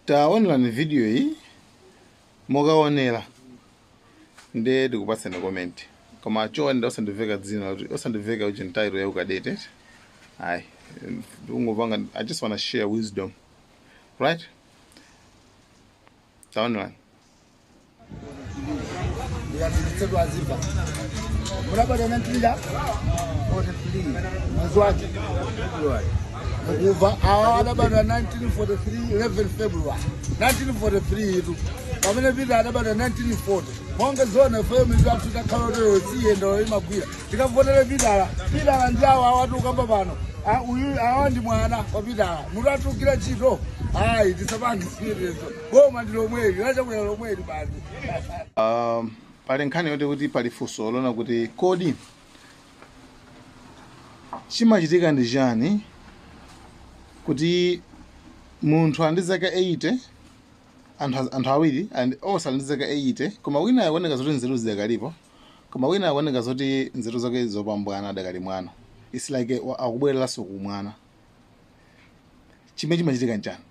taonerani video iyi mukaonera ndiye ndikupatsani comment koma chonde osandiveka dzina kuti osandiveka uchintayilo ya ukadeti ayi ndikungopanga i just wanna share wisdom right taonerani mukuva awa adabadwa 1943 11 february 1943 itu pamene Peter adabadwa 1940 monga zone fm zathu takhala oteyo siyendolo imagwira tikavotera Pitala Pitala ndi awa awa tikukamba pano Ah, uyu awa ndi mwana wa Pitala mutatulukira ntchito ayi tisapange siyetezo boma ndi lomweli la Chakwera lomweli basi Um, pali nkhani yoti kuti pali funso lonena kuti kodi chimachitika ndi chani kuti munthu ali ndi zaka 80 anthu az- anthu awiri and onse ali ndi zaka 80 koma wina akuoneka zoti nzeru zidakalipo koma wina akuoneka zoti nzeru zake zopambwana adakali mwana its like wa- akubwereranso kumwana chimene chimachitika nchani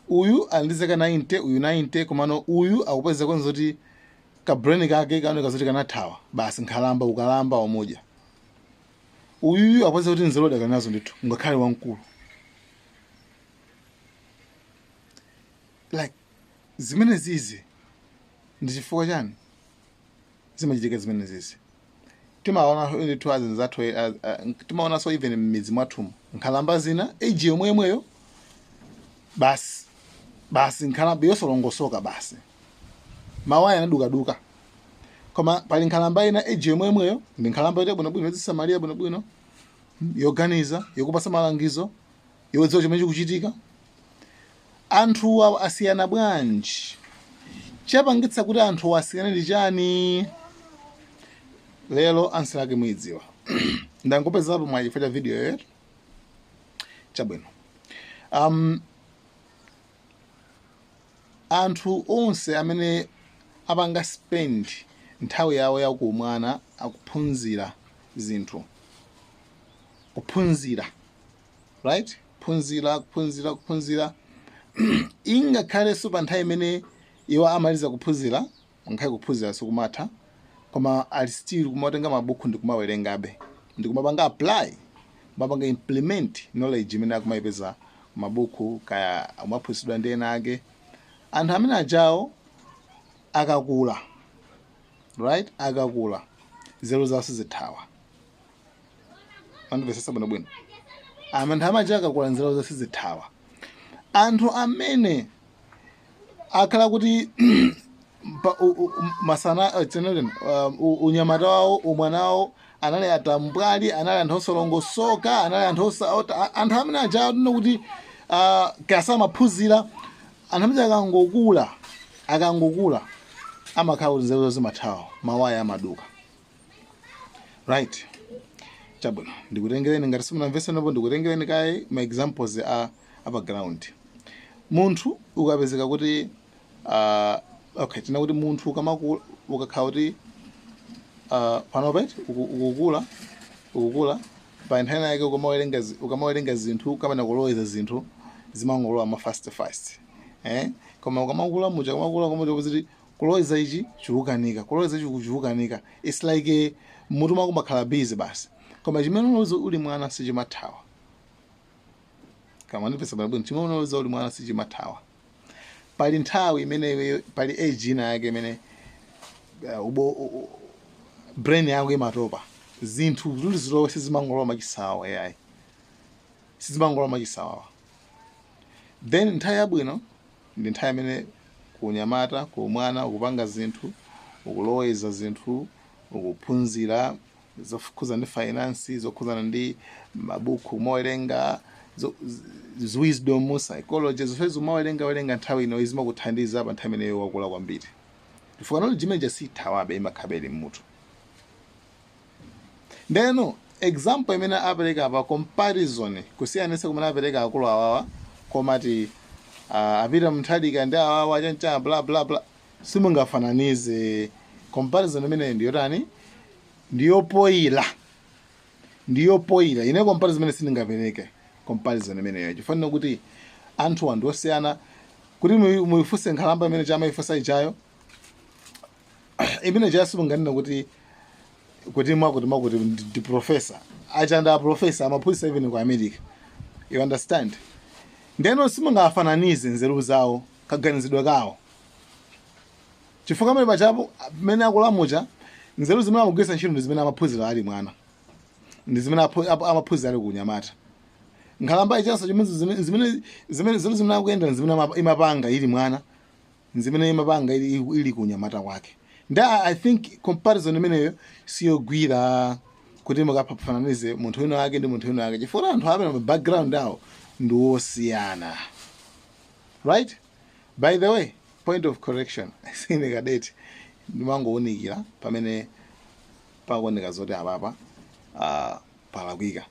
uyu ali ndi zaka 90 uyu 90 komano uyu akupezeka kuoneka kuti ka brain kake kaoneka zoti kanathawa basi nkhalamba ukalamba wamudya uyuyu akupezeka kuti nzeru adakali nazo ndithu ngakhale wamkulu like zimenezizi ndi chifukwa chani zimachitika zimenezizi timaonanso ndithu azinzathu eh, ah, ah, timaonanso even mmidzi mwathumu nkhalamba zina age yomwe yomweyo basi basi nkhalamba yosalongosoka basi mawaya anadukaduka koma pali nkhalamba ina age yomwe yomweyo ndi nkhalamba yoti bwinobwino yodzisamalira bwinobwino yoganiza yokupatsa malangizo yodziwa chimene chikuchitika Anthuwa asiyana bwanji? Chapangitsa kuti anthuwa asiyane ndi chani? Lero answer yake muidziwa. Ndangopezerapo mwayi chifukwa cha video iyiyo. Chabwino. Um, anthu onse amene apanga spend nthawi yawo ya kuumwana akuphunzira zinthu kuphunzira right kuphunzira kuphunzira kuphunzira ingakhalenso pa nthawi imene iwo amaliza kuphunzira ngakhale kuphunzira sikumatha koma ali still kumatenga mabuku ndi kumawerengabe ndi kumapanga apply kumapanga implement knowledge imene akumayipeza m'mabuku kaya amaphunzitsidwa ndi ena ake anthu amene ajawo akakula right akakula nzeru zawo sizithawa mwandimvetsetsa bwino bwino anthu amene aja akakula nzeru zawo sizithawa anthu amene akhala kuti pa- u- u- u- masana eh, tinene, um, u- unyamata wawo umwana wawo anali atambwali anali anthu osalongosoka anali anthu osa- ota- a- anthu amene aja tinene kuti ah, kaya samaphunzira anthu amene akangokula akangokula amakhala kuti nzeru zawo zimathawa mawaya amaduka right chabwino ndikutengereni ngati simunamvese panopo ndikutengereni kaye ma examples a apa ground munthu ukapezeka kuti uh, okay tinene kuti munthu ukamakula ukakhala kuti uh, panopa eti ukukula ukukula Pa nthawi inayake ukamawelenga ukamawelenga zinthu kapena kuloweza zinthu zimangolowa ma fast fast eh koma ukamakula muja ukamakula muja kuti kuloweza ichi chikukanika kuloweza ichi chikukanika it's like eh, mutu mwako mumakhala busy basi koma chimene unaloweza uli mwana sichimathawa kaya mwandimvetsa bwino chimene unaloweza uli mwana sichimathawa pali nthawi imene iweyo pali age ina yake imene uh, ubo u- u- brain yako imatopa zinthu kuti zilowe sizimangolowa mwachisawawa ayi sizimangolowa mwachisawawa then nthawi yabwino ndi nthawi imene kunyamata ku umwana ukupanga zinthu ukuloweza zinthu ukuphunzira zokhudzana ndi finance, zokhudzana ndi mabuku kumawerenga, zo- z- z- wisdom, psychology, zonsezi umawerenga werenga nthawi ino zimakuthandiza pa nthawi imene iwe wakula kwambiri. Chifukwa knowledge imene ija sithawabe imakhalabe mmutu. Ndeno example imene apereka apa comparison kusiyanitsa kumene apereka akulu awawa kumati uh, apita Mutharika ndi awawa achanda bla bla bla simungafananize comparison imeneyo ndiyotani ndiyopoyila ndiyopoyila ine comparison imene sindingapereke comparison imeneyo chifukwa kuti anthu anthu osiyana kuti muyi- muyifunse nkhalamba imene ija amaifunsa ijayo imene ijayo simunganena kuti kuti mwakuti mwakuti ndi ndi professor achanda professor amaphunzitsa even ku america you understand ndeno simungafananize nzeru zawo kaganizidwe kawo chifukwa pamene pajapo pamene akula muja nzeru zimene akugwiritsa ntchito ndi zimene amaphunzira ali mwana ndi zimene aphu- ap- amaphunzira ali kunyamata nkhalamba ijanso chimene zimene- zimene zimene nzeru zimene akuyenda zimene ama- imapanga ili mwana zimene imapanga ili, ili kunyamata kwake ndi I, i think comparison imeneyo siyogwira kuti mukafananize munthu wina wake ndi munthu wina wake chifukwa anthu amene ma background awo ndi wosiyana right by the way point of correction sine kadeti ndimangowunikira pamene pakuoneka zoti apapa uh, palakwika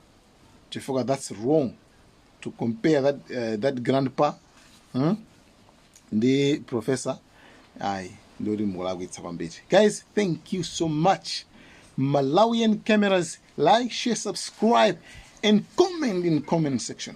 chifukwa that's wrong to compare that, uh, that grandpa hmm? ndi professor ayi ndiye kuti mukulakwitsa kwambiri guys thank you so much malawian cameras like share subscribe and comment in comment section